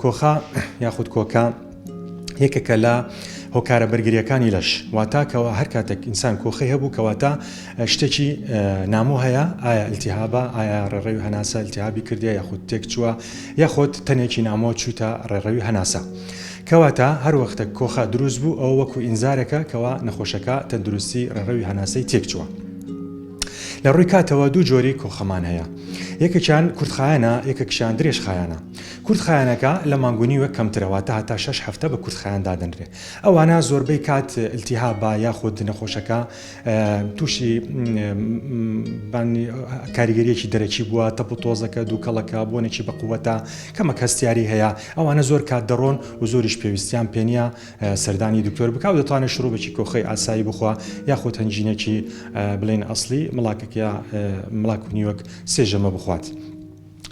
کۆخە یاخود کۆکە یەکێکە لە هۆکارە بەرگریەکانی لەش واتا کەەوە هەر کاتێک ئینسان کۆخی هەبوو کەواتە شتێکی نامۆ هەیە ئایا التیهابە ئایا ڕێڕەوی هەناسە التیهابی کردیا یاخود تێک چووە یاخود تەنێکی نامۆ چووتە ڕێڕەوی هەناسە. کەواتە هەر وەختە کۆخە دروست بوو ئەو وەکو ئینزارەکە کەوا نەخۆشەکە تەندروستی ڕێڕەوی هەناسەی تێک چووە. لە ڕووی کاتەوە دوو جۆری کۆخەمان هەیە یەکەکیان کورتخایەنە یەکەکشان درێژخایەنە کورت خایەنەکە لە مانگ و نیوێک کەمترە واتە هەتا شەش هەفتە بە کورت خایەن دادەنرێ ئەوانە زۆربەی کات التهابە یاخود نەخۆشەکە تووشی کاریگەریەکی دەرەکی بووە تەپ و تۆزەکە دووکەڵەکە بۆنێکی بەقوەتە کەمەک هەستیاری هەیە ئەوانە زۆر کات دەڕۆن و زۆریش پێویستیان پێنیە سەردانی دکتۆر بکە و دەتوانێت شروبێکی کۆخەی ئاسایی بخوا یاخود هەنجینێکی بڵێن ئەسلی مڵاکەکە مڵاک و نیوەک سێژەمە بخوات.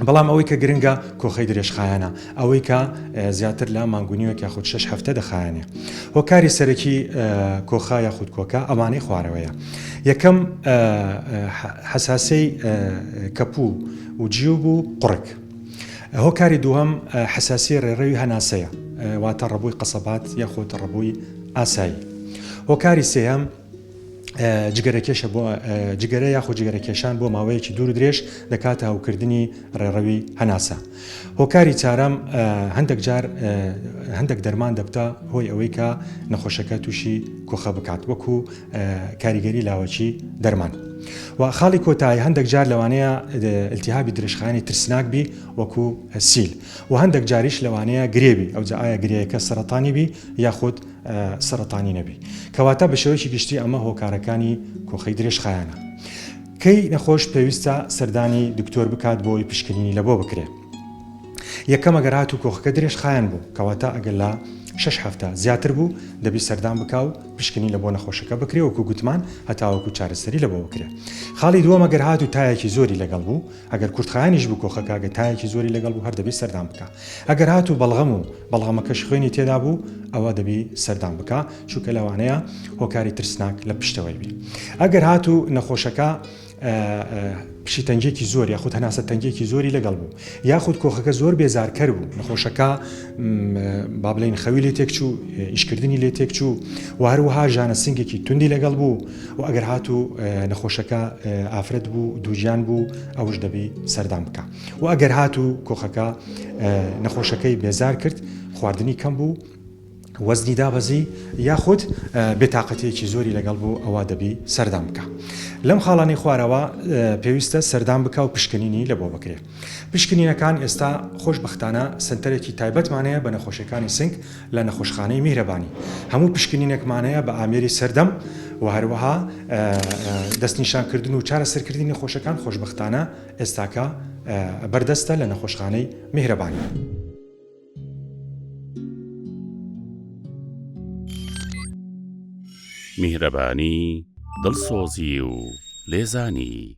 بەڵام ئەوەی کە گرنگە کۆخەی درێژخایەنە، ئەوەی کە زیاتر لە مانگ و نیوێک یاخود شەش هەفتە دەخایەنێ. هۆکاری سەرەکی کۆخە یاخود کۆکە ئەوانەی خوارەوەیە، یەکەم، حەساسیی کەپوو و جیوب و قوڕگ. هۆکاری دووهەم، حەساسیی ڕێڕەوی هەناسەیە، واتە ڕەبۆی قەسەبات یاخود ڕەبۆی ئاسایی. هۆکاری سێیەم. جگەرەکێشە بۆ جگەرە یاخۆ جگەرەکێشان بۆ ماوەیەکی دوور درێژ دەکاتە هەوکردنی ڕێڕەوی هەناسە. هۆکاری چارەم هەندێک جار هەندێک دەرمان دەبتە هۆی ئەوەی کە نەخۆشەکە تووشی کۆخە بکات وەکو کاریگەری لاوەکی دەرمان. و خاڵی کۆتایی هەندێک جار لەوانەیە التیهابی درێژخانی ترسناک بی وەکو سیل و هەندێک جاریش لەوانەیە گرێوی ئەوجا ئایا گرەیەکە سەرەتانی بی یاخود سەرەتانی نەبی کەواتە بە شێوەیەکی گشتی ئەمە هۆکارەکانی کۆخەی درێژخایەنە کەی نەخۆش پێویستە سەردانی دکتۆر بکات بۆی پشکنینی لەبۆ بکرێت یەکەمە گەرات و کۆخەکە درێژ خایەن بوو کەواتە ئەگەر لە شش هەفتە زیاتر بوو دەبی سەردان بکە و پشکنی لە بۆ نەخۆشەکە بکرێ وەکو گوتمان هەتاوەکو چارەسەری لە بۆ بکرێ خاڵی دووەمە گەر هات و تایەکی زۆری لەگەڵ بوو ئەگەر کورتخانیش بوو کۆخەکەگە تایەکی زۆری لەگەڵ بوو هەر دەبی سەردان بکە ئەگەر هاتوو بەڵغەم و بەڵغەمەکەش خوێنی تێدا بوو ئەوە دەبی سەردان بکا چونکە لەوانەیە هۆکاری ترسناک لە پشتەوەی بی ئەگەر هاتوو نەخۆشەکە پشی تەنگێکی زۆر یاخود هەناسە تەنگێکی زۆری لەگەڵ بوو یاخود کۆخەکە زۆر بێزارکەر بوو نەخۆشەکە با بڵین خەوی لێ تێکچوو ئیشکردنی لێ تێکچوو و هەروەها ژانە سنگێکی توندی لەگەڵ بوو و ئەگەر هاتوو نەخۆشەکە ئافرەت بوو دووجان بوو ئەوش دەبی سەردان بکە. و ئەگەر هاتوو کۆخەکە نەخۆشەکەی بێزار کرد خواردنی کەم بوو وەزنی دابەزی یاخود بێتاقەتێکی زۆری لەگەڵ بوو ئەوە دەبی سەردان بکە لەم خاڵانی خوارەوە پێویستە سەردان بکە و پشکنینی لە بۆ بکرێت پشکنینەکان ئێستا خۆشببختانە سنتەرێکی تایبەتمانەیە بە نەخۆشیەکانی سنگ لە نەخۆشخانەی میهرەبانی هەموو پشکنینێکمانەیە بە ئامێری سەردەم و هەروەها دەستنیشانکردن و چارەسەرکردنی خۆشەکان خۆشببختانە ئێستاکە بەردەستە لە نەخۆشخانەی میهرەبان. میهرەبانی، دڵسۆزی و لێزانی.